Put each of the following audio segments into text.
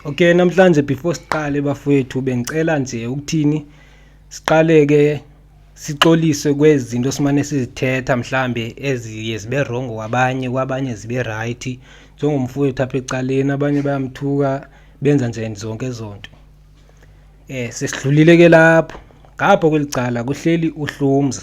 Okay namhlanje before siqale bafowethu bengicela nje ukuthini siqale ke sixolise kwezinto simane sizithetha mhlambe eziye zibe wrong kwabanye kwabanye zibe right njengomfowethu apha ecaleni abanye bayamthuka benza nje zonke zonto eh sesidlulile ke lapho ngapho kwelicala kuhleli uhlumza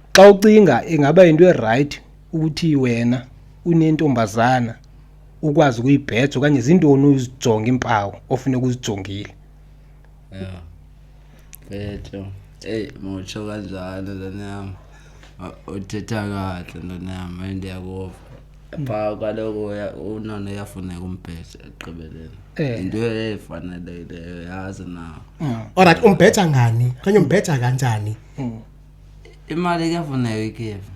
xa ucinga ingaba yinto erayithi ukuthi wena unentombazana ukwazi ukuyibheja okanye zintoni uzijonga iimpawu ofuneka uzijongile ya betho eyi mutsho kanjalo lona yam uthetha kahle lona yam ayi ndiyakuva pha kaloku unona uyafuneka umbheja ekugqibeleni eh. yinto efanelekileyo yazi nawo olrayithi umbheja ngani okanye umbheja kanjani mm. imali kuyafuneka ikhefu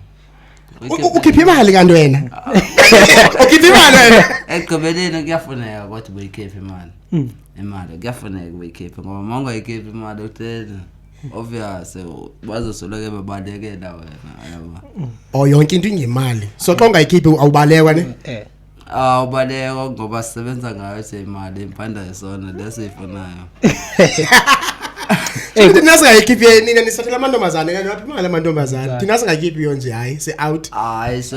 ukhipha imali kanti wena ukhipha imali wena ekugqibeleni kuyafuneka kodwa ubuyikhiphe imali hmm. imali kuyafuneka ubuyikhiphe ngoba uma ungayikhiphi imali uhleli obvious bazosoloko bebalekela wena yabo o oh, yonke into ingemali so xa ungayikhiphi awubalekwa ne eh, eh. awubaleka ah, ngoba sisebenza ngayo nje imali impanda yesona lesiyifunayo eh, thina singayikhiphi yenina nisathela amantombazane kanti laphi imali amantombazane thina singayikhiphi yo nje hayi si-out hayi so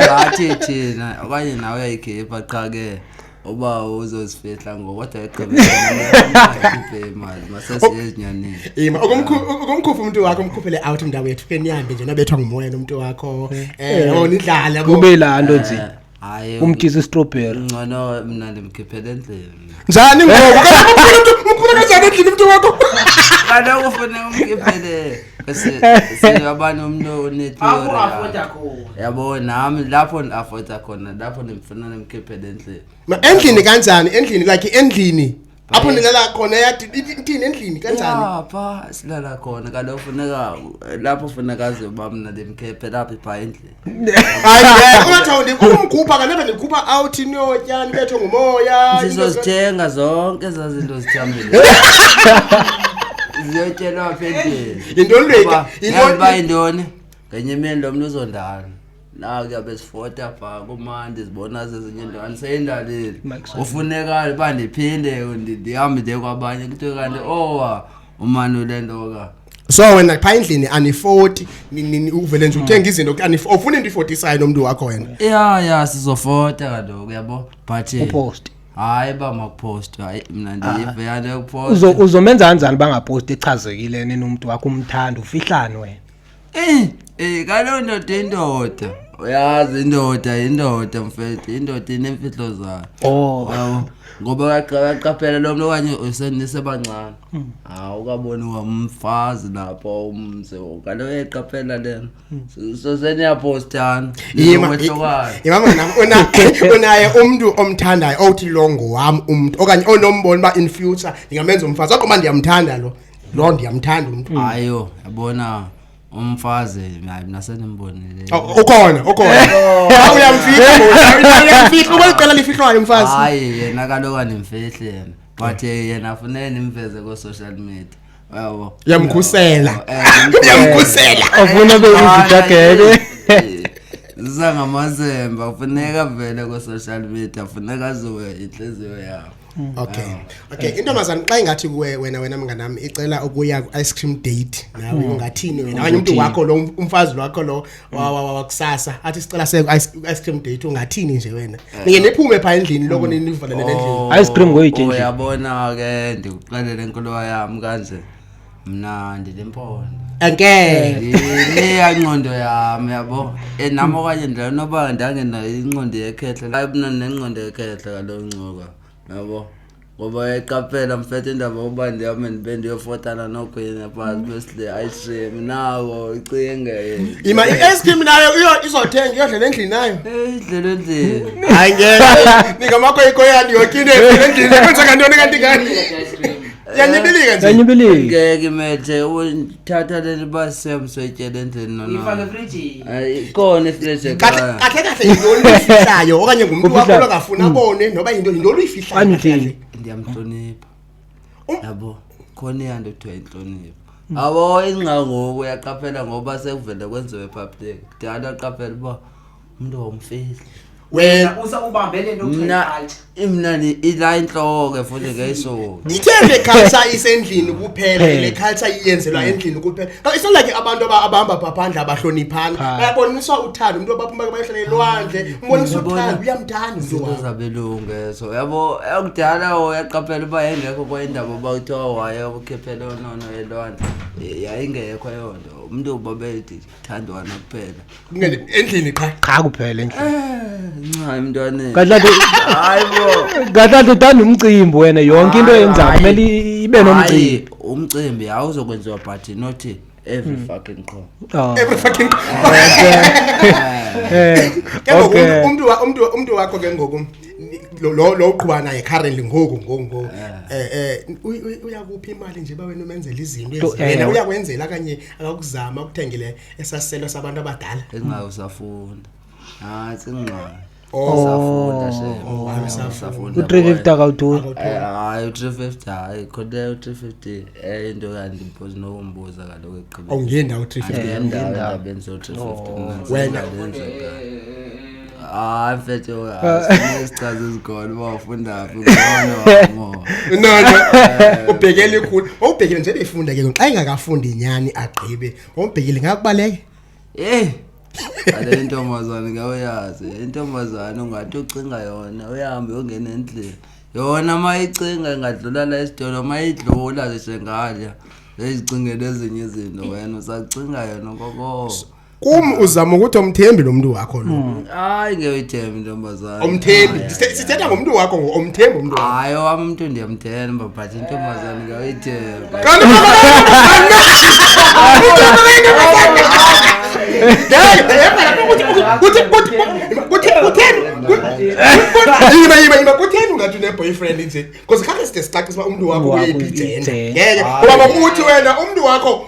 ngathi thina okanye nawe uyayikhipha qha ke uba uzozifihla ngokodwa eqebekhiphe imali masasiye ezinyaneni ima ukumkhupha umntu wakho umkhuphele out indawo yethu ke nihambe nje nabethwa ngumoya nomntu wakho um yabo nidlale yabo. kube laa nto nje hayi umtyisa istrobheri ngcono mna ndimkhiphele endlini njani ngoku kanti umkhuphela umntu umkhuphela kanjani endlini umntu wakho kaloku ufune umkhiphele siyaba nomntu onetheoryabo nam lapho ndiafota khona lapho ndimfuna ndimkhiphele endlini endlini kanjani endlini like endlini apho nilala khona yatini endlini kanjanipha silala khona kaloku funeka lapho funeka aze uba mna ndimkhephe laphi phaa endlini ayingathi ndikumkhupha kanebe ndikhupha out inotya ndibethwe ngumoya zizozithenga zonke ezaa zinto zithambile ziyotyelwa apha endlini yintoni leka uba yintoni ngenye imini lo mntu uzondala naku yabe sifota phaa kumandi zibona zezinye into andiseyindalile ufunekale uba ndiphinde ndihambe ndiye kwabanye kuthiwe kanti owa umanule ntoka so wena phaa endlini anifoti uvele nje uthenga izinto ufuna into ifotisayo nomntu wakho wena ya ya sizofota kaloku yabo but eh, upost hayi uba makupost hayi mna ah. ndiyive yanto yokupost uzomenza kanjani uba ngapost echazekile nini umntu wakho umthanda ufihlani wena um um kaloo ndoda indoda uyazi indoda indoda mfethu indoda inemfihlo zayo oh. ngoba kaqaphela lo mntu okanye usebancane Hmm. hawu ukaboniwa umfazi lapho umzi kanti uyeqaphela lena hmm. so seniyapostana imahlokwayo imama nam unaye umntu omthandayo owuthi lo ngowam umntu okanye onombona uba in future ndingamenza umfazi kodwa uba ndiyamthanda lo lo ndiyamthanda umntu ayo yabona umfazi hayi mina sendimbonile oh, ukhona ukhona uyamfihla uyamfihla ubaliqela lifihlwayo umfazi hayi yena kaloku andimfihli yena but eh, yena afunele nimveze ko-social media yabo yamkhusela Eh, yamkhusela Afuna be izidageke. ziza ngamazemba funeka vele ko-social media funeka aziwe intliziyo yabo okay okay intombazana xa ingathi kuwe wena wena mnganam icela ukuya ku-ice cream date nawe ungathini wena okanye umntu wakho lo umfazi wakho lo wakusasa athi sicela se ice cream date ungathini nje wena eh. ninge niphume pha endlini loko mm. ninivalele endlini oh, ice cream ngoyithe nje uyabona ke ndikuxelele inkuluwa yami kanje mna ndilempondo angeke leyanqondo yami yabo eh, nam okanye ndinoba ndangenayo inqondo yekhehla ayibuna nenqondo yekhehla kalo ncuka yabo ngoba yayiqaphela mfethe indaba uba ndihame ndibe ndiyofotana nokhwini phantsi besile ayishem nawo icinge ima i-eskim nayo izothenga iyodlela endlini nayo idlela endlini hayi ngeningamakho ikoyani yokine endlini kwenzeka ntoni kanti ngani yanyibilika nje yanyibilika ngeke methe thatha le liba semswetyele endlini nonakona ifleje kahle kahle kahle yinto oluyifihlayo okanye ngumntu wakho Ufihlayo. longafuna Mm. abone noba yinto yinto oluyifihlayo Kwani kahle kahle. uthini? ndiyamhlonipha Um- yabo khona iyanto kuthiwa intlonipho abo ingcangoku uyaqaphela ngoba sekuvele kwenziwe public ndiyala qaphela uba umntu wawumfeli wena usakubambe le nto mna kuthiwa mna ni- ila intloko ke futhi ke iso ithe le culture isendlini kuphela Hey. le culture iyenzelwa endlini kuphela Ka- it's not like abantu aba- abahamba pha phandle abahloniphani Cha. bayaboniswa uthando umntu abaphuma bayohlala elwandle umbonisa Uyabona? uthando uyamthanda umntu izinto wakho zabelungu eso yabo yakudala o yaqaphela uba yayingekho kwayindaba uba kuthiwa waye ukhiphele onono elwandle Eh, yayingekho eyo nto umntu ubabedidi thandwa nakuphela endlini qha qha kuphela endlini eh, ncane mntwaneni kahlati hayibo kahlati uthanda umcimbi wena yonke into yenzayo kumele ibe nomcimbi umcimbi awuzokwenziwa but not every hmm. fucking qho oh. every fucking eh, ke ngoku umuntu umuntu umuntu wakho ke ngoku lo lo uqhuba naye currently ngoku ngoku eh eh uyakuphi imali nje bawena umenzela izinto ezibena uyakwenzela kanye akakuzama ukuthengile esasiselo sabantu abadala ingayo usafunda hayi singxola Oh. usafunda Oh, hayi, usafunda. u-three fifty akawutholi Eh, hayi u-three fifty hayi khona u-three fifty enye into kanti mpozi nokumbuza kaloku ekugqibeni awungendawo three fifty Andiyendaba endabeni zo-three fifty mna wena. ndisendalenza kayo. Ah, mfethu asinezichaza ezikhona uba ufunda phi ngono. No no. Ubhekele ikhulu. Ubhekele nje befunda ke xa engakafundi inyani agqibe. Ubhekele ngakubaleke. Eh. Ale ntombazane ngawuyazi. Intombazane ungathi ucinga yona uyahambe ungena endlini. Yona mayicinga ingadlula la esitolo mayidlula zishengalya. Ezicingele ezinye izinto wena usacinga yona kokoko. kum uzama ukuthi omthembi lo mntu wakho lo hmm. hayi ngeyoyithembi intombazana omthembi sithetha ngomntu wakho omthembi umntu hayi owam umntu ndiyamthemba but intombazana ngeyoyithemba kutheni ungathi uneboyfriend nje bcause khakhe side sicacisa uba umntu wakho uyeyiphi ijenda ngeke ngoba bakuthi wena umntu wakho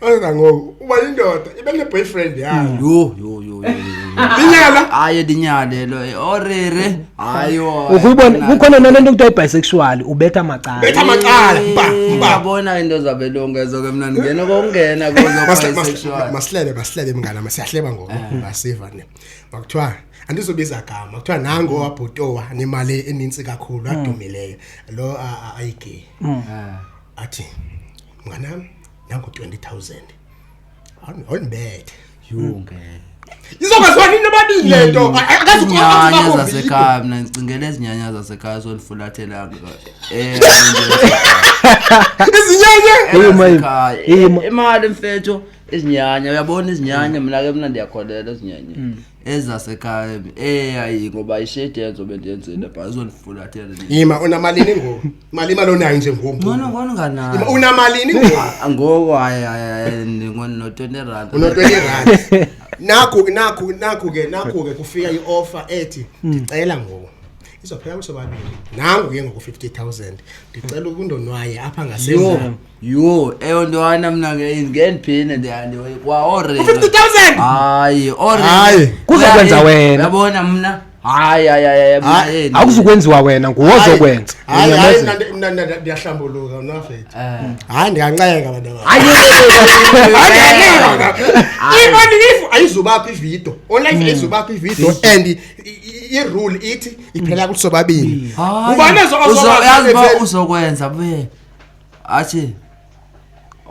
angangoku uba yindoda ibe ne-boyfriend yayo yho yho yho inyala hayi ndinyalelo orere hayi ukuyibona kukhona nale nto kuthiwa ibisexual ubetha macala betha macala mba mba yabona into zabelongezo ke mna ndingena kokungena kozo masilebe masilebe mngana masiyahleba ngoku basiva ne makuthiwa andizobiza gama kuthiwa nango mm. wabhutowa nemali enintsi kakhulu mm. adumileyo lo ayigay mm. athi mnganam nango 20000 awundibethe yunge izokwaziwa nini nobabili le nto akazinyanya zasekhaya mna ndicingela ezinyanya zasekhaya zondifulathela eh, izinyanya imali mfetho izinyanya uyabona izinyanya mna ke mna ndiyakholela ezinyanyeni hmm. ezasekhaya eyayi ngoba ishedi yenzo bendiyenzile bha izondifulathela yima unamalini ngoku mali imali onayo nje ngoku ngono ngono nganayo Yima, unamalini ngoku Ah, ngoku hayi hayi hayi ndingono-twenty rand unotwenty rand naku naku naku ke naku ke kufika i-offer ethi ndicela ngoku izophela kusobabili nangu ke ngoku fifty thousand ndicela ukundonwaye apha ngasemva yho eyo nto hayi namna ke ngendiphine ndiyandiwe kwa orere U-50,000? hayi Hayi. orere Kuzokwenza wena. yabona mna hayi hayi hayi mna Hayi, yena. akuzukwenziwa wena nguwe ozokwenza hayi hayi Unyamezela. mna ndi- mna ndi- ndiyahlambuluka unafethi Eh. hayi ndiyanxeka abantu aba Hayi, ionifu ayizubakho ividiyo onlife ayizubakho ividiyo and i- i- irule ithi iphela kuthi sobabini Hayi. ubanezo Uzo- yazi uba uzokwenza be athi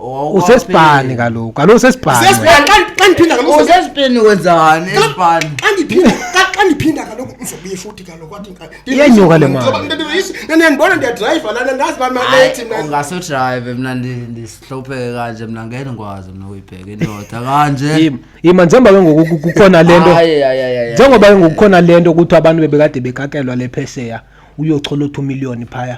"Owa- usesibhani kaloku kaloku usesibhani wena. Sesibhani xa xa ndiphinda kaloku Owa- sesibhani. usesibheni wenzani esibhani Xa ndiphinda xa- xa ndiphinda kaloku uzobuye futhi kaloku wathi nka- Iyenyuka le mali. Ngoba ndandibona isi- nani ndibona ndiyadrayiva lana ndazi uba malethi mna. ungase udrayive mna ndi- ndihlupheke kanje mna ngeke ndikwazi mna uyibheke indoda kanje Yima- yima njengoba ke ngoku ku- kukhona le nto Ayi, ayi, ayi, ayi. njengoba ke ngoku kukhona le nto kuthiwa abantu bebekade bekakelwa le phesheya uyochola u-two million phaya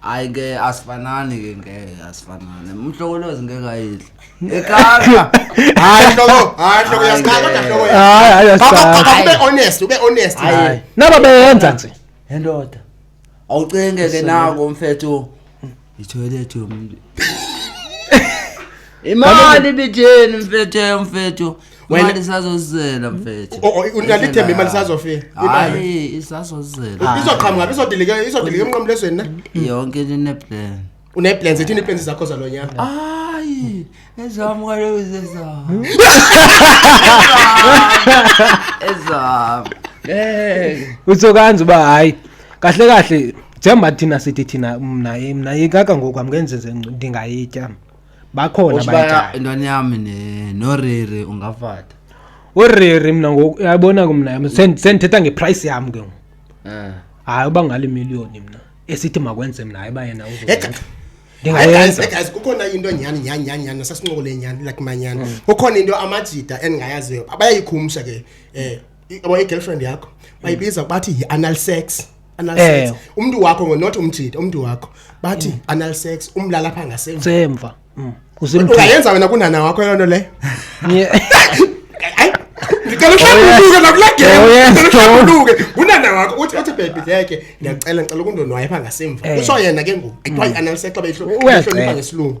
hayi ke asifanani ke ngeke asifanani umhlokolozi ngeke ayidle ekaka hayi hloko hayi hloko yasikhala kodwa hloko hayi hayi asifanani ube honest ube honest hayi naba beyenza nje endoda awucinge ke nako mfethu itoilet yomuntu imali bitheni mfethu mfethu Wena- imali isazozela mfethu O- o- unayo ithemba imali isazofika unayo hayi isazozela izoqhamuka izodilika izodilika emnqamulezweni na yonke into ineplan uneplans ethini iplans zakho zalo nyaka hayi ezam kaloku zezam ezam utsho kanzi uba hayi kahle kahle njengoba thina sithi thina mna mna yikaka ngoku amngenzenze ndingayitya bakhona Uthi baya abayithayo intwana yami ne- noriri ungafata uriri mna ngoku yabona ke mna yam sendi- sendithetha ngeprice yam ke ngoku Eh. hayi uba ngale miliyoni mna esithi makwenze mna hayi uba yena Hey, uzoyenza guys, hey, guys, ndingayenza hey, guys, kukhona into nyhani nyhani nyhani nyhani nasasincokoleni nyhani like manyhani kukhona into amajida endingayaziyo abayayikhumsha ke um yabo i-girlfriend yakho bayibiza bathi yi-anal sex anal Eh. sex umntu wakho ngo- not umjita umntu wakho bathi anal sex umlala apha ngasemva semva Mm. usemthini ungayenza wena kunana wakho loo nto leyo Yeah. Hayi, ndicela uhlambuluke nakula Oh, game yes, ndicela uhlambuluke ngunana wakho uthi uthi bhebi leke ndiyacela ndicela ukundonwayo pha ngasemva Eh. utsho yena ke ngoku ekuthiwa yi-anal sex xa beyihlonipha Uyacenga. ngesilungu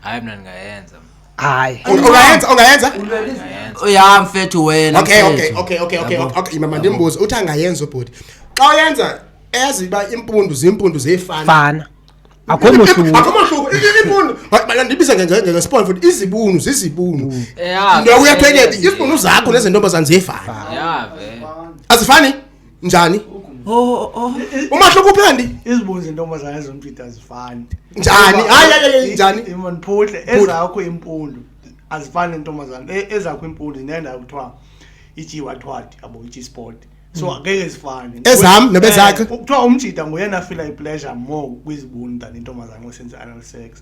hayi mna ndingayenza hayi ungayenza ungayenza ya mfethu wena okay okay mfethu. okay okay okay Yabo. okay mama ndimbuze uthi angayenza ubhuti xa uyenza eyazi uba impundu ziimpundu ziyefana fana akho mohluko akho mahluko I- i- impundu Ba- ba- ndibize nge- nge- ngesipolo futhi izibunu zizibunu ya nto uyathwekela izibunu zakho nezentombazane ziyefana ya ve azifani njani umahluko uphi kanti izibunzi intombazana ezompita azifani njani hayi njani imaniphuhle ezakho impundu azifani nentombazana e, ezakho impundu zinendawo kuthiwa ijiwathwadi abo ijisport so hmm. ngeke zifane ezami nebezakhe eh, kuthiwa umjida nguyena afila ipleasure more kwizibuni than intombazana osenza anal sex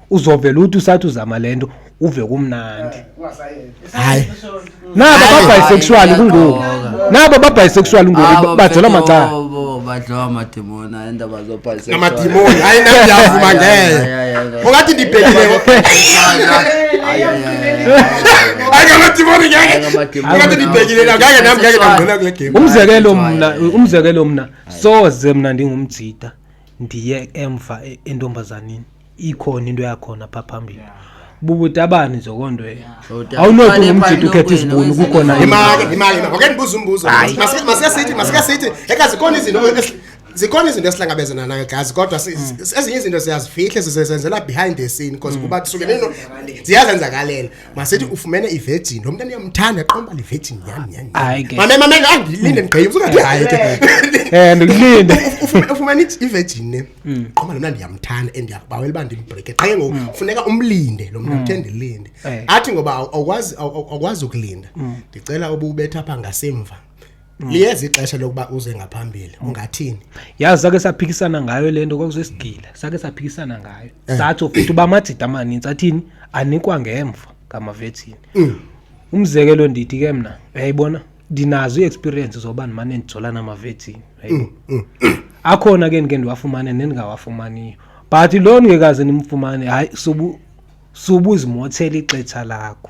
uzovela uthi usathi uzama le nto uve kumnandi hayi nabo babhisexual kungoku nabo babhisexual ngoku bajela macala badliwa amadimoni hayi indaba zobhisexualamadimoni hayi nandiyavuma ngeye ungathi ndibhekileko umzekelo mna umzekelo mna soze mna ndingumjida ndiye emva e-, entombazanini ikhona into yakhona pha phambili bubutabani nje loo nto eyo awunothi ngumjita ukhetha izibuni kukhona imali imali ngoke ndibuza umbuzo masike sithi masike sithi ekazi khona izinto zikhona izinto esihlangabezana nayo gazi kodwa mm. ezinye izinto siyazifihle sisezenzela behind the scene because mm. kuba kusukele ziyazenzakalela masithi ufumene ivirgin lo mntana uyamthanda qomba le virgin nyhani nyhani Hayi ke. mame mame ngangilinde ndigqibe usungathi hayi ke Eh ndikulinde. Ufu- ufumene i- ivirgin ne qoma lona ndiyamthanda and ndiyakubawela uba ndimbreake qha ke ngoku funeka umlinde lo mntu uthe ndilinde Eh. athi ngoba awu- awukwazi awu- awu- awukwazi ukulinda ndicela ububetha apha ngasemva liyeza ixesha lokuba uze ngaphambili ungathini yazi sake saphikisana ngayo le nto kwakusesigila sake saphikisana ngayo eh. satsho futhi uba amajida amaninzi athini anikwa ngemva ngamavethini mm. umzekelo ndithi ke mna uyayibona ndinazo i-experience zoba ndimane ndijolana amavethini mm, mm. akhona ke ndike ndiwafumane nendingawafumaniyo but loo ndingekaze ndimfumane hayi subu subu zimothela ixetsha lakho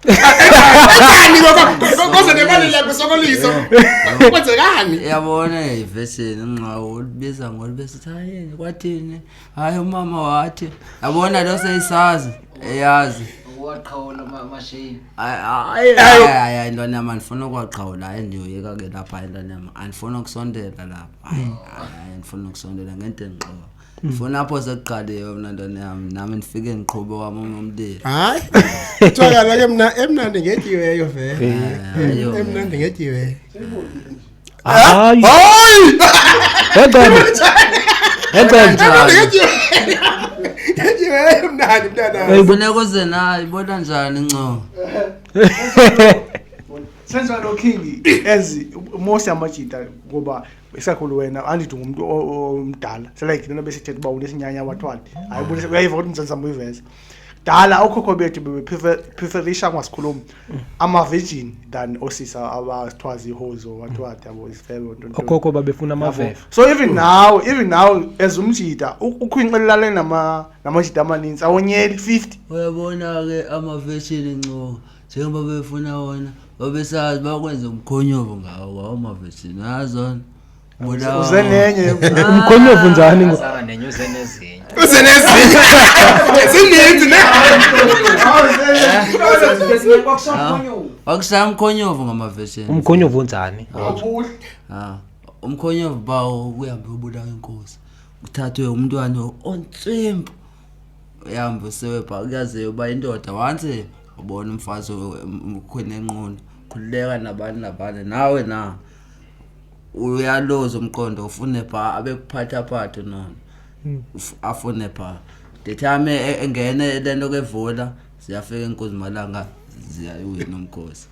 Kanjani ngoku koze nemali yakho sokoliso. Kwenzekani? Yabona ivesini nqawo ulibiza ngolibesithi hayi kwathini? Hayi umama wathi. Yabona lo seyisazi eyazi. Waqhawula amashini. Hayi hayi intwana yami andifuna ukwaqhawula hayi ndiyoyeka ke lapha intwana yami. Andifuna ukusondela lapha. Hayi andifuna ukusondela ngento endiqoba. ndifuna apho sekuqaliwe mna ntoni yam nam ndifike ndiqhube wam umlilo hayi kuthiwa kaloke mna emnandi ngetyiweyo vele Ayo. emnandi ngetyiweyo hayi hayi encebe encebe ngetyiweyo emnandi mntanam funeka uze nayo ibona njani ncoo senjalo king as most amajita ngoba isakhulu wena andithi ngumntu omdala selike lena besithetha uba unesinyanya wathwali hayi ubonisa uyayiva ukuthi mzansi zam uyiveza kudala okhokho bethu bebepreferisha ngasikhulumi amavijini than osisa abathiwa zihozo bathiwa dabo izifebe okhokho babefuna amaveve so even now even now as umjita ukhwinxelelane namajita amaninzi awonyeli fifty uyabona-ke amavejini ncoka njengoba befuna wona babesazi bakwenza umkhonyovu ngawo wawo mavesini yazona uze nenye umkhonyovu njani ngo Sara nenye uze nezinye. uze nezinye zininzi ne wakusaya umkhonyovu ngamavesini umkhonyovu unjani Ah, umkhonyovu bawo kuhambe ubulawa inkosi kuthathwe umntwana ontsimpu uyahambe usiwe pha kuyaziwa uba indoda once ubona umfazi ukhwele enqunu khululeka nabani nabani nawe na uyaloza umqondo ufune pha abekuphathaphathe nona hmm. afune pha the time e-, engene le nto kevula ziyafika enkuzimalanga ziyawina umkhosi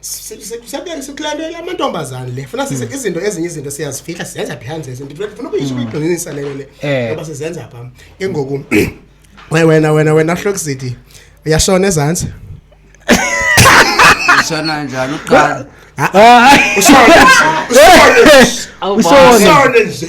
Si- si- siyabe- sikulandela amantombazane le funa sise Hmm. izinto ezinye izinto siyazifihla sizenza behind the scenes. funa ukuyisho ukuyigqinisa leyo le Hmm. Eh. ngoba sizenza pha ke ngoku we- wena wena wena hlokisithi uyashona ezantsi Ishona njani uqala? Ah, Usone nje. Usone nje.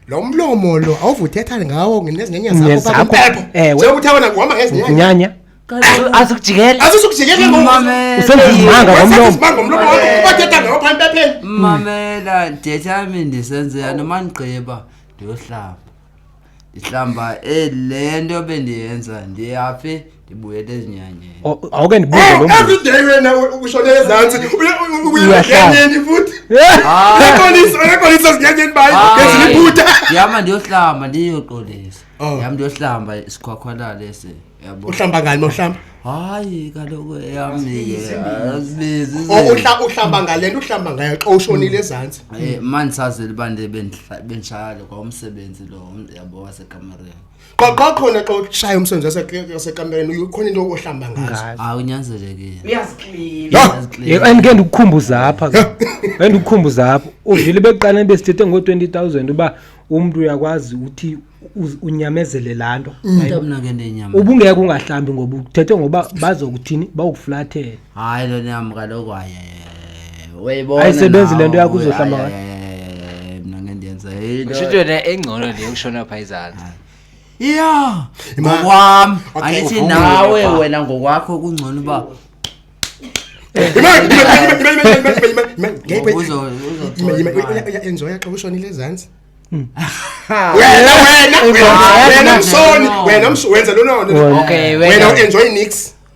lo mlomo lo awuvuthetha ngawo ngezinyenye zakho Ngezakho, bakuphepho ewe. sekuthi abona kuhamba ngezinyenye nyanya azokujikela azizukujikele Mamela. Usenza izimanga ngomlomo. izimanga ngomlomo wakho ubathetha ngawo phambi pepheni mamela ndethami ndisenzela noma ndigqiba ndiyohlamba ndihlamba ele nto bendiyenza ndiyaphi ndibuyele ezinyanyeni O- awuke ndibuze lo mbuzo. everyday wena ushone ezantsi uyenyanyeni futhi ekolisa ekolisa zinyanyeni bayi ngezilibuta ndihamba ndiyohlamba ndiyoqolisa Oh. ndihamba ndiyohlamba isikhwakhwala lesi yabo uhlamba ngani mawuhlamba hayi kaloku eyamike azibizi O- uhla- uhlamba ngale nto uhlamba ngayo xa ushonile ezantsi um mandisazile uba ndibe ndihla- bendishayale kwa umsebenzi lo yabo wasekamareni qaqakhona xa ushaya umsebenzi wasekampereni ukhona into ohlamba ngazoandike ndikukhumbuza apha andikukhumbuza apha uvile bekuqaleni besithethe ngo-twenty thousand uba umntu uyakwazi uthi unyamezele laa nto mm. ubungeke ungahlambi ngoba uthethe ngoba bazokuthini bawukuflathele hayi lo nyama kaloku uyayibona ayisebenzi le nto yakho uzohlamba mna ngendiyenza yinto into engcono le yokushona phaa izantsi ya ngokwam andithi nawe wena ngokwakho kungcono uba enjoya xa ushonile ezantsi wena wena wena msoni wena wenza lononowena uenjoy nix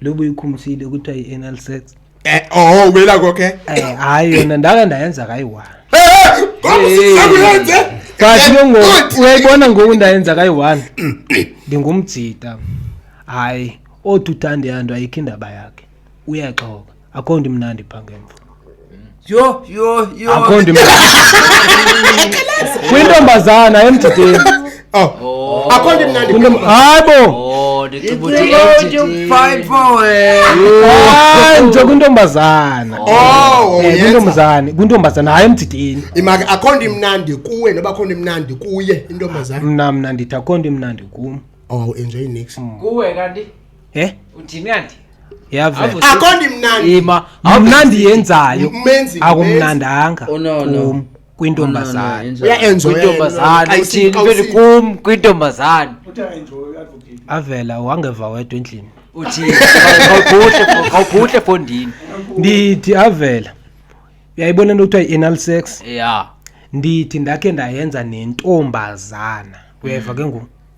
lobu ikhumbusile ukuthi ayi anal sex eh oh ubela konke eh hayi yona ndaka ndayenza kayi one eh ngokuyenze eh, kathi ke ngoku uyayibona ngoku ndayenza kayi one ndingumjita hayi othi uthande yanto ayikho indaba yakhe uyaxoka akho nto imnandi pha ngemva yho yho yho akho nto imnandi kwintombazana emjideni Oh, akho nto imnandi Kwintom- hayi bo oh, ndicinga ukuthi It's about to entity. fight for it. hayi nje kwintombazana Oh, Eh, uyenza. kwintombazane kwintombazana hayi emjideni imaka akho nto imnandi kuwe noba akho nto imnandi kuye intombazana mna mna ndithi akho nto imnandi kum oh enjoy nix kuwe kanti Eh? Undimnandi. Yavela. Akondi mnandi. Ima, awumnandi yenzayo. Menzi. Akumnandanga. Oh no no. Kwintombazana. Uya enjoy. Kwintombazana. Uthi vele kum kwintombazana. Uthi enjoy advocate. Avela wangeva wedwa endlini. Uthi awubhuhle awubhuhle fondini. Ndithi avela. Uyayibona into kuthiwa i-anal sex? Yeah. Ndithi ndakhe ndayenza nentombazana. Uyeva mm. ke ngoku?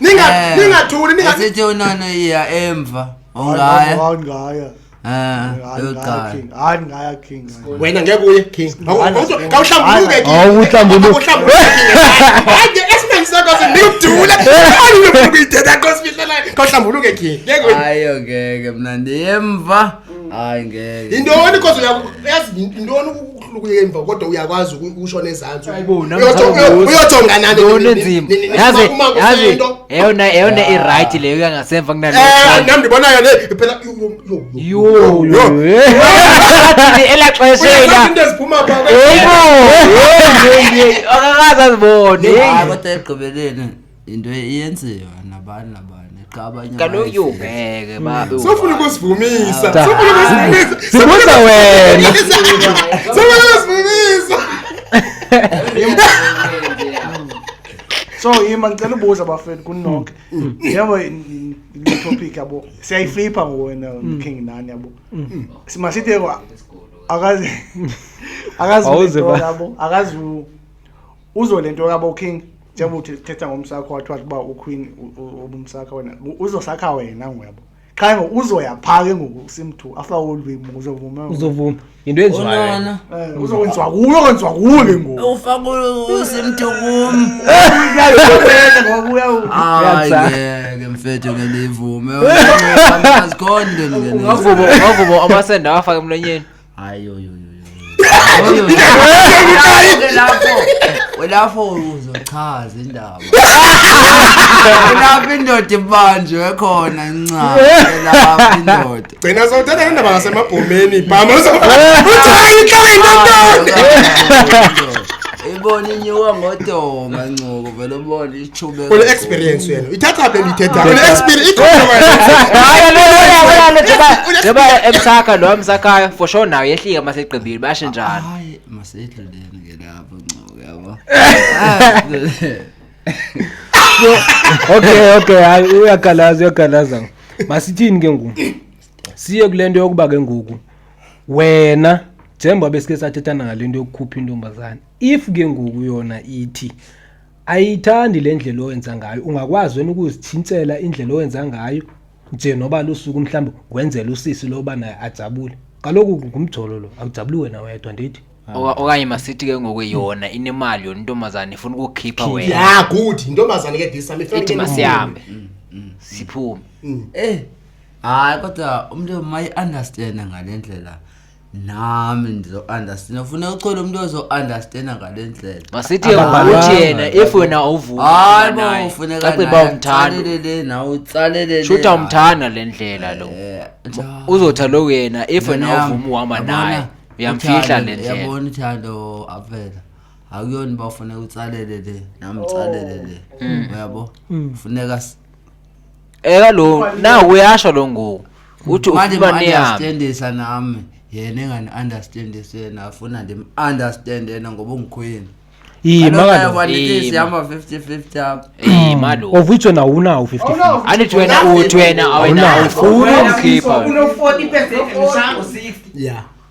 ningathulinisethi unana iya emva ongaya wena ngeke uye king kawuhlambuluke kawuhlambuluke king ayo ngeke mna ndiyemva hayi ngeke yintoni kozo yazi yintoni ukuya emva kodwa uyakwazi ukusho nezantsi uyojonga naniyona eyona ah. irayithi leyo yangasemva kunanam eh, ndibonayo le phela ela xeshainto eziphuma akakazi azibone kodwa ekugqibeleni into eyenziwa nabani nabani qha abanye kaloku yubheke babe sofuna ukusivumisa Ta- sofuna ukusivumisa Sibuza wena. sofuna ukusivumisa so yima ngicela ubuza bafethu kunonke yabo le topic yabo siyayiflipha ngowena king nani yabo simasithi akazi akazi Awuze ba- yabo akazi uzo le nto kabo king njengoba uthi thetha ngomsakho wathi wathi uba uqueen ubumsakha wena uzosakha wena ngoyabo qha ngoku uzoya phaa ke ngoku simthu after all week uzovuma uzovuma yinto enziwayo eh, uzokwenziwa kuyo kwenziwa kuyo ke ngoku ufaka usimthu kum ke mfethu ke ndiyivume azikhonde ungavuma amasende awafake emlonyeni Hayi oyo oyo. Kulapho uzochaza indaba. Kulapho indoda ibanjwe khona incawa. Kulapho indoda. Gcina sawuthatha le ndaba ngasemabhomeni. Bhama uzochaza inhlaba indoda. Ibona inyuka ngodoma ncoko vele ubona Comela Ule experience gogo. yena. Ithatha phela ithetha. Ule experience yabaya emsakha lo emsakhayo for sure nayo yehlika masegqibile bashe njalo hayi masedluleni ke lapho ncoke yabo okay okay hayi uyagalaza uyagalaza masithini ke ngoku siye kule nto yokuba ke ngoku wena njengoba besike sathethana ngale nto yokukhupha intombazane if ke ngoku yona ithi ayiyithandi le ndlela owenza ngayo ungakwazi wena ukuzithintsela indlela owenza ngayo nje noba lusuku mhlawumbi wenzela usisi loba naye ajabule kaloku ngumjolo lo akujabuli wena wedwa ndithi okanye masithi ke ngoku yona inemali yona intombazane ifuna ukukhipha wena ya good intombazane ke disa ithi masihambe mm, mm. siphume mm. eh hayi kodwa umntu mayi-understanda ngale ndlela nam ndizounderstand ufuna uchola umntu ozounderstanda ngale ndlela masithi Ababhalanga. uthi yena if wena hayi bo awuvumanaye ufuneka caciba naye umthanda atsalelele nawe utsalelele shuthi naye. umthanda le ndlela lo Eh, njalo. uzotha lo yena if wena Yabona, awuvumi uhamba yabona, naye uyamfihla uthando, le ndlela yabona uthando avela akuyona uba ufuneka utsalelele nam utsalelele uyabo funeka s- Eh kaloku nawe uyasho lo ngoku. Uthi Manje ufuna niyame. mu-understandisa nami yena engani-understandisi yena afuna ndim-understand yena ngoba ungikhwini Iyi makalo. Iyi, sihamba 50-50 apha Eh malo. Of which one awunawo 50. Andithi wena uthi wena awena Awunawo. awufuni umkhipha. Uno 40 percent mshango 60. Yeah.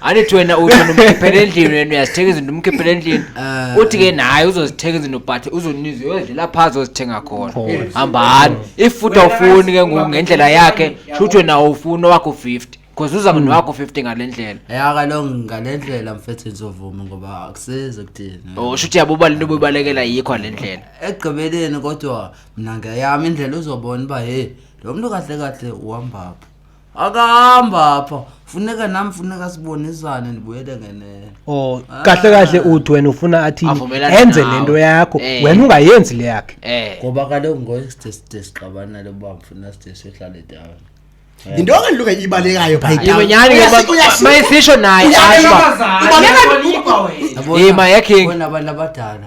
andithi wena uthi ndimkhiphele endlini wena uyazithenga izinto umkhiphele endlini eh. uthi ke naye uzozithenga izinto but uzoniza uyodlela phaa zozithenga khona hambani ifuthi awufuni ke ngoku ngendlela yakhe shuthi wena awufuni owakho fifty because uza hmm. nowakho fifty ngale ndlela ya kaloku ngale ndlela mfethu ndizovuma ngoba akusizi kuthini o oh, shuthi yabo ubali into obuyibalekela yikho le ndlela ekugqibeleni kodwa mna ngeyam indlela uzobona uba he lo mntu kahle kahle uhambaphi akahamba apha funeka nam funeka sibonisane ndibuyele ngenene o oh, kahle kahle uthi wena ufuna athi enze le nto yakho eh. wena ungayenzi le yakhe eh. ngoba kaloku ngoye side side sixabanele uba mfuna side sihlale down eh. yinto engaluke ibalekayo phayitawunyani mayisisho naye asho ubaleka yima yakhe abadala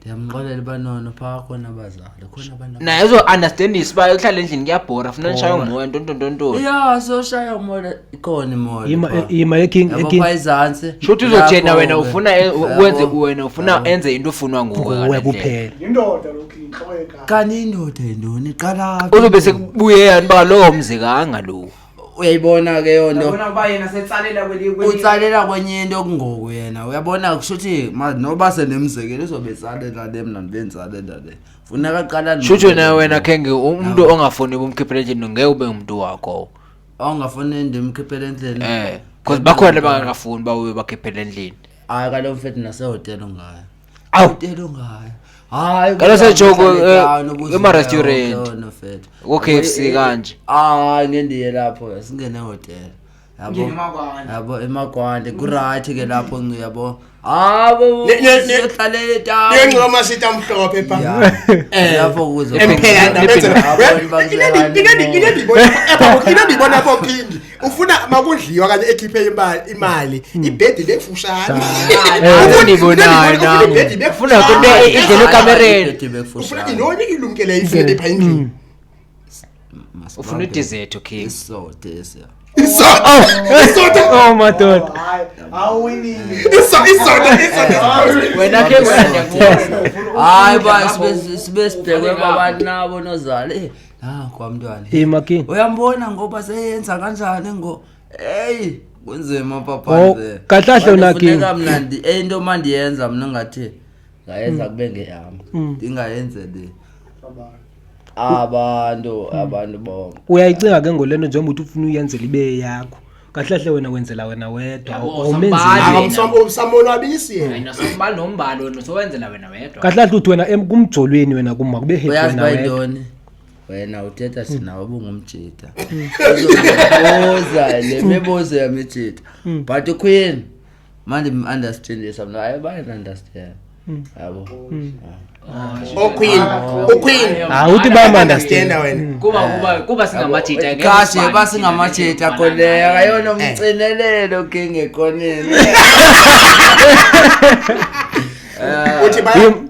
ndiyamxolela uba nono phaa khona abazali khona abantu aba- naye uzo-understandisa uba uhlala endlini kuyabhora funa ndishaya Bhora. umoya ntontontontoni ya soshaya umoya ikhona imoya Ima- phaa. ima eking- Yabo eking- phaa izantsi shuthi uzojena Lapho wena ke. ufuna e- Yabo. wenze wena ufuna Yabo. enze into ufunwa nguwe nguwe ngale ndlela. kuphela yindoda lokhu yintloko yekati kanti indoda yintoni iqalaphi uzobe sekubuye yani uba lowo mzi kanga lowo uyayibona ke yonto yabona kuba yena setsalela kwelinye kwelinye- utsalela kwenye into kungoku yena uyabona kusho ukuthi ma- noba senemzekelo uzobe etsalela le mna ndibe nditsalela le funeka qala shutsho naye wena khenge umntu ongafuni ubumkhiphela endlini ngeke ube ngumntu wakho ongafuni ndimkhiphele endlini um because bakhona bangakafuni uba ube bakhiphela endlini hayi kalo mfethu nasehotele ungayo Au. Telo ngayo. Hayi. Kalo sejoku emarestaurant. Ku KFC kanje. Ah, ngendiye lapho singene hotel. Yabo. Yabo emakwande ku right ke lapho ngi yabo. Abo. Sihlale ta. Ngengoma sita mhlophe pha. Eh lapho kuzo. Emphela ndabenzela. Ngeke ngeke ngeke ngibona. Epha ngeke ngibona pho phindi. ufuna makudliwa kanye ekhiphe imali imali hmm. ibhedi bekufushane undibonayo nam ufuna kunto idlele ekamereni ufuna intoni ilumkele ifele pha endlini hmm. ufuna idizetho king Oh my god. wena ke wena hayi ba sibe sibhekwe babantu nabo nozale Ah, kwa mntwana. Hey Makini. Uyambona ngoba seyenza kanjani ngo hey kunzima papa oh, nje. Kahlahle unaki. Ngeke mnandi eh into mandiyenza mina ngathi ngayenza mm. kube ngeyami. Mm. Ndingayenze le. Abantu abantu bonke. Uyayicinga ke ngolento njengoba uthi ufuna uyenzela ibe yakho. kahlahle wena wenzela wena wedwa Yabo, or sambali. umenzile. Aka Yena. msam- msamonwabisi yena Wena sombali nombali wena sowenzela wena wedwa kahlahle uthi wena em- kumjolweni wena kuma kube happy uyazi wena wedwa. bayintoni wena uthetha sinawe ubungumjita uzobuza le mibuzo yamijita but ukhuyini manje understand this i'm not i buy and understand hmm. yabo hmm. oh queen oh queen ah uthi ba understand wena hmm. kuba kuba kuba singamajita ke kasi ba singamajita kole akayona eh. umcinelelo ke ngekoneni Eh, uthi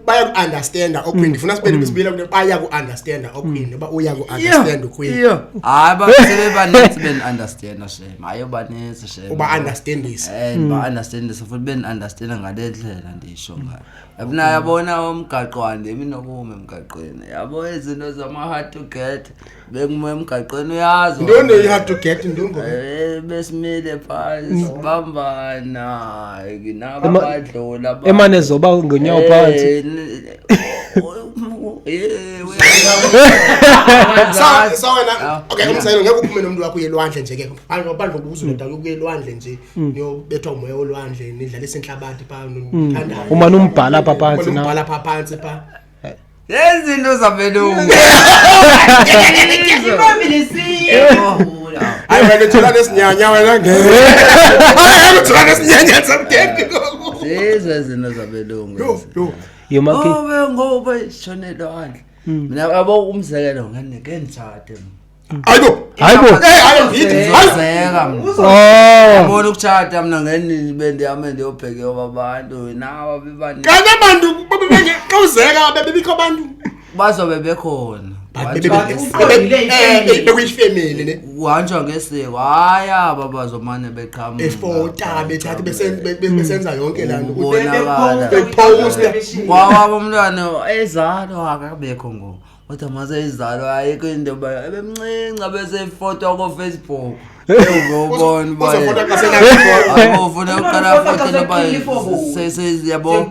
bayaku-understanda okwini mm. ndifuna sibele besibile mm. kule bayaku-understanda okwini uba uyaku-understand ukwini hayi basebebaninzi bendiunderstanda shem maye ubanintsi shem uba understandisa Eh, Hmm. ba understand so futhi ben understand ngale ndlela ndisho ngayo yabona yabona umgaqo wande iminokume emgaqweni yabo izinto zama hard to get bekume emgaqweni uyazi into neyi-hard to get into ngoba Eh, besimile phansi sibambana naba Ema- badlula ba- emane zoba ngonyawo Eh, phansi n- sawenakungeke uphume nomntu wakho uyelwandle nje ke phandle ubuza unoda kuyelwandle nje niyobethwa umoya olwandle nidlalisa intlabati pha umane umbhala pha phantsi umbhala pha phantsi pha yezinto zabelungu hayi wena thola nesinyanya wena ngeke thola nesinyanya samdende lezo izinto zabelungu yomakhe oh we ngoba ishonelo handle hmm. mina abo umzekelo ngene ke ndithathe ayibo ayibo eh hayi ngidi ngizeka mina ubona oh. ukuthatha mina ngene bendihamba ndiyobheka yoba abantu nawa bebani kanti abantu babebeke xa uzeka bebebikho abantu bazobe bekhona bekuyifemeli le kuhanjwa ngesiko hayi aba bazomane beqhamufota bethatha besenza yonke laa ntokwawabo umntwana ezalo akabekho ngoku kodwa mase izalo ayikho into yoba ebemncinci abesefotwa kofacebook ubona uba ayibovuna uqalafote loba yabo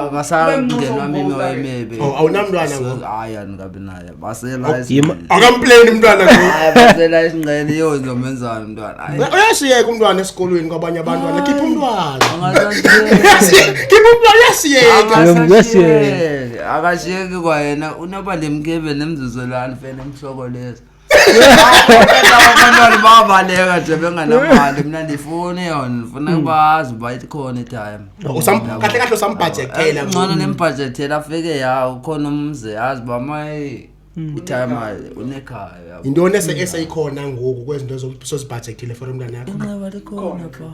akasangenwa mimoya emibi Oh, awunamntwana ngoku hayi andikabi naye basela Yima- akampleni umntwana ngoku basela isingqele yo ndizomenzani umntwana Hayi. uyasiyeka umntwana esikolweni kwabanye abantwana khipha umntwana Angasashiyeki. khipha umntwana uyasiyeka Akasashiyeki. akashiyeki kwayena unoba lemkebe nemzuzo lani fele mhloko leso abantwana babaleka nje benganamali mna ndifuni yona ndifuna hmm. bazi uba ikhona itime oh, kahle kahle usambhajethela eh, ngcono nembhajethela afike ya ukhona umzi yazi uba mayi hmm. itime unekhaya yintoni eseyikhona ngoku kwezinto sozibhajethile for umntana yakho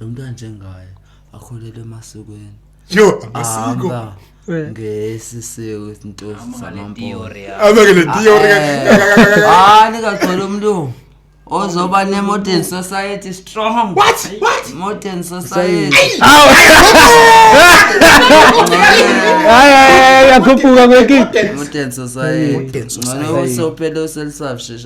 lo mntu anjengaye akholelwe emasikweni yho amasiko Ahamba Eh. ngesi siko isintosi Hamba ngale samampondo theory yakho. ame ke le theory ke- hayi ningagcwela umntu ozoba ne-modern society strong what what modern society Hayi, hayi, hayi, uyakhuphuka kwekinto modern society ngcono usophele uselisafshesha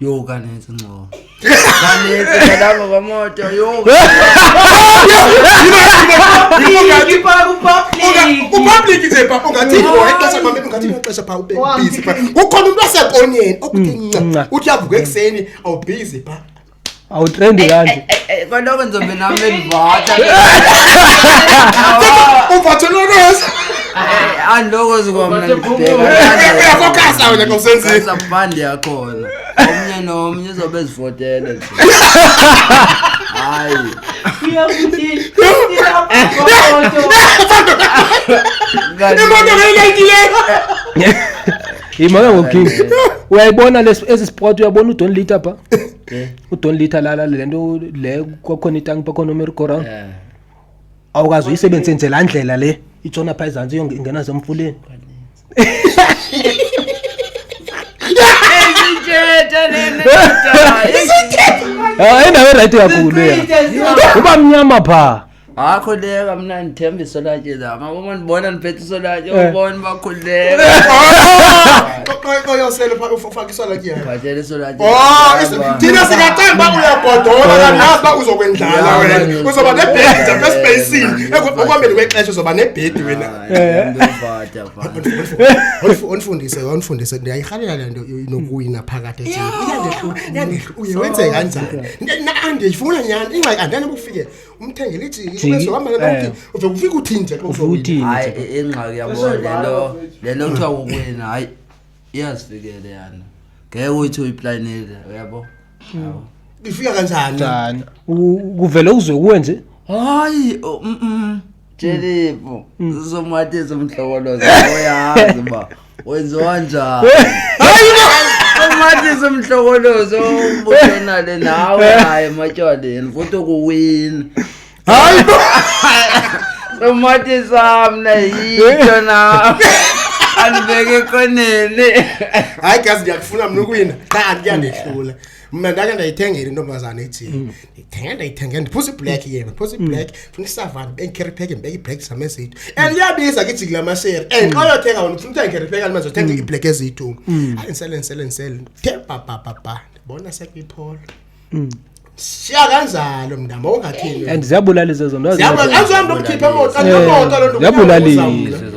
Yho kanintsi ngcobo. Kanintsi ngalapha kwemoto yho. Kupublic nje papa ungathi ngoe xesha mama ungathi ngexesha pha ube busy pha. Kukhona umuntu wasekoneni okuthi nca. Uthi avuka ekseni awubusy pha. awutrendi kanti eh, eh, eh, kaloku ndizombe nam bendivata uvatheloneza andiloko zikomnayafokasa wena kosenzisabhandi yakhona omnye nomnye uzobe ezivotele nje hayi imoto ngeyilentileyo yimaka ngoking uyayibona esi sport uyabona udon lita pha Eh. udon litha lala le nto le kwakhona itanki bakhona umerigorang Eh. awukazi uyisebenzise nje laa ndlela le itshona phaa ezantsi iyo ingena semfuleni hayi ndawo erayithi kakhulu yena uba mnyama phaa Wakhuleka kamnandi themba isolwatshe zam uma ndibona ndiphethe isolwatshe Eh. ubona uba khuleka oyosele ufake isolwatshe yakho bhatshela isolwatshe Oh, is- thina singathanda uba uyagodola kanazi uba uzokwendlala wena uzoba nebhedi apha esipeyisini ekuhambeni kwexesha uzoba nebhedi wena Ondifu- ondifundise ondifundise ndiyayirhalela le nto inokuwina phakathi ethini iyandehlula iyandehlula uye wenze kanjani Na- na- andiyifuna nyhani ingxaki andiyani ukufikelela umthengele ijiki Jiki, ubeso hamba eh. nalo uve ufika uthini nje xa uthi uzowina uthini hayi nje? i- ingxaki yabo Bese lento yibhala, lento kuthiwa kukwena hayi iyazifikele yana ngeke uyithi uyiplanile uyabo Yabo. ifika kanjani Njani? U- kuvele uzwe kuwe nje hayi oh, mm, mm. Jelifu, hmm. sizomathisa umhlokoloza uyazi uba wenziwa njani. Umathisa umhlokoloza umbuyonale nawe hayi ematyaleni futhi ukuwina. Hayi bo. Somathisa mna yitho nawe. Andibeke koneni. Hayi gazi ndiyakufuna mna ukuwina. Cha andiyandehlula. mna ndake ndayithengela intombazana ithi mm. ndithenge ndayithenge ndiphusa iblack yena ndiphusa mm. iblack funa isavana ndibe ndikheripeke ndibeke iblack zam ezitu and mm. iyabiza ke ijikile amashere and xa uyothenga wona ufuna uthenga ikheripeke alimanje othenga iblack ezitu hayi ndisele ndisele ndisele ndithe babhabhabha ndibona sekuyiphola siya kanjalo mntama ungathini and ziyabulala izezo nto ziyabulala angizohambe ukukhipha emoto angiyomoto loo nto ziyabulalisa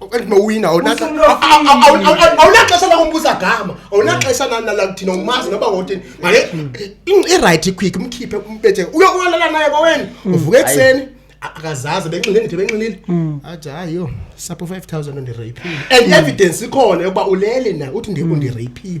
okanye uwina awunaxesha lakumbuza gama awunaxesha nalakuthina umazi noba wotini maye irayithi quick umkhiphe umbethe uyolala naye kwaweni mm. uvuke ekuseni akazazi benxile ndithi benxilile mm. athi hayi yho sapho five thousand ondireyphile and mm. evidence ikhona yokuba ulele na uthi ndikundireyphile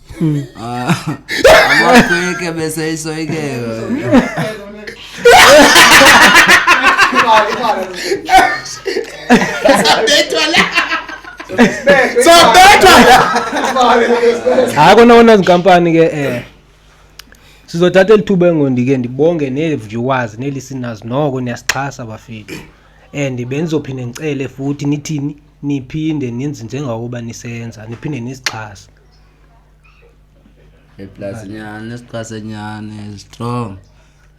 amakhwekhe beseyisoyikeka sobethwa hayi kona kona zinkampani ke um sizothatha eli thuba engondike ndibonge nee-viewers nee-listeners noko niyasixhasa bafethu and bendizophinde ndicele futhi nithini niphinde nenze njengakuba nisenza niphinde nisixhase iplasinyane isiqasenyane strong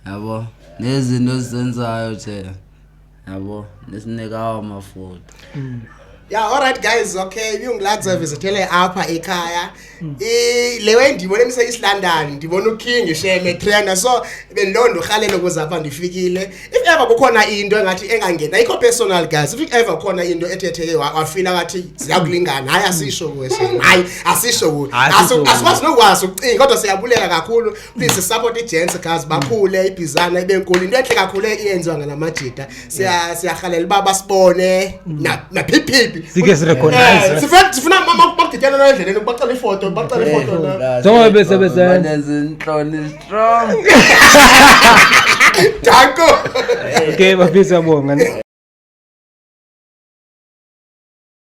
yabo nezinto esizenzayo nje yabo nesinekawo amafutha mm. ya yeah, alright guys okay ibiyungiladza visithele apha ekhaya mm. le way ndiyibona emise isilondon ndibona uking isheme triana so bendiloo ndurhalele ukuze apha ndifikile if ever kukhona into engathi engangena ikho personal guys if ever khona into ethetheke wafila ngathi ziyakulingana hayi asisho kuwe hayi asisho kuwe asikwazi nokwazi ukucinga kodwa siyabulela kakhulu please support igents guys bakhule ibhizana ibe nkulu into enhle kakhulu eyenziwa ngalamajita siyahalela uba basibone mm. naphiphiphi sike sirecognize eh, sifuna bakudityanela endleleni bacela ifoto bacela ifoto njengoba besebezenza intloni strong. Tanko. Okay, mapisa bonga.